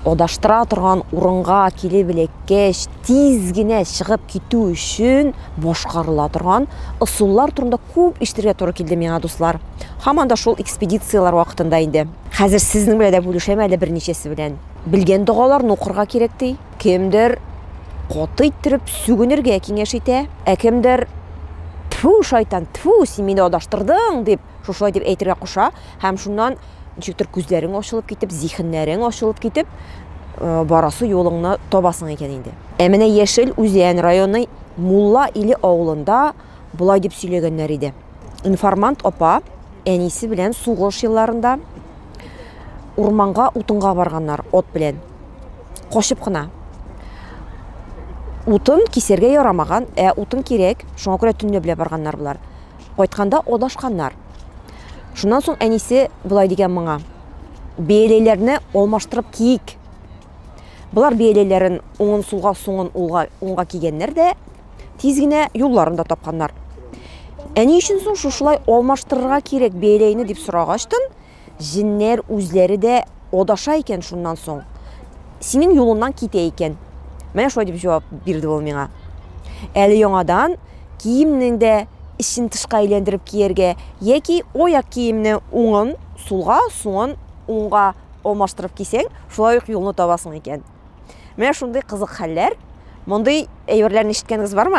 Адаштыра торган урынга килеп эләккәч, тиз генә чыгып китү өчен башкарыла торган ысуллар турында күп ишетергә туры килде миңа, дуслар. Һаман да шул экспедицияләр вакытында инде. Хәзер сезнең белән дә бүлешәм әле берничәсе белән. Белгән догаларны укырга кирәк ди. Кемдер каты иттереп сүгенергә киңәш итә, ә кемдер, Тфү, шайтан, тфү, син мине адаштырдың, дип, Шушылай дип әйтергә куша, һәм шуннан ничектер күзләрең ачылып китеп, зиһеннәрең ачылып китеп, э, барасы юлыңны табасың икән инде. Ә менә Яшел Үзән районы Мулла Иле авылында болай дип сөйләгәннәр иде. Информант апа әнисе белән сугыш елларында урманга утынга барганнар от белән. Качып кына. Утын кисәргә ярамаган, ә утын кирәк, шуңа күрә төнләп белә барганнар болар. Кайтканда адашканнар. Шуннан соң әнисе болай дигән моңа. Бияләйләрне алмаштырып киек. Болар бияләйләрен уңын сулга суңын улга уңга кигәннәр дә тиз генә юлларын да тапканнар. Әни өчен соң шушылай алмаштырырга кирәк бияләйне дип сорагачтын, җеннәр үзләре дә адаша икән шуннан соң. Синең юлыңнан китә икән. Менә шулай дип җавап бирде ул миңа. Әле яңадан киемнең дә эчен тышка әйләндереп кияргә яки аяк киемне уңын сулга, суңын уңга алмаштырып кисәң, шулай ук юлны табасың икән. Менә шундый кызык хәлләр. Мондый әйберләрне ишеткәнегез бармы?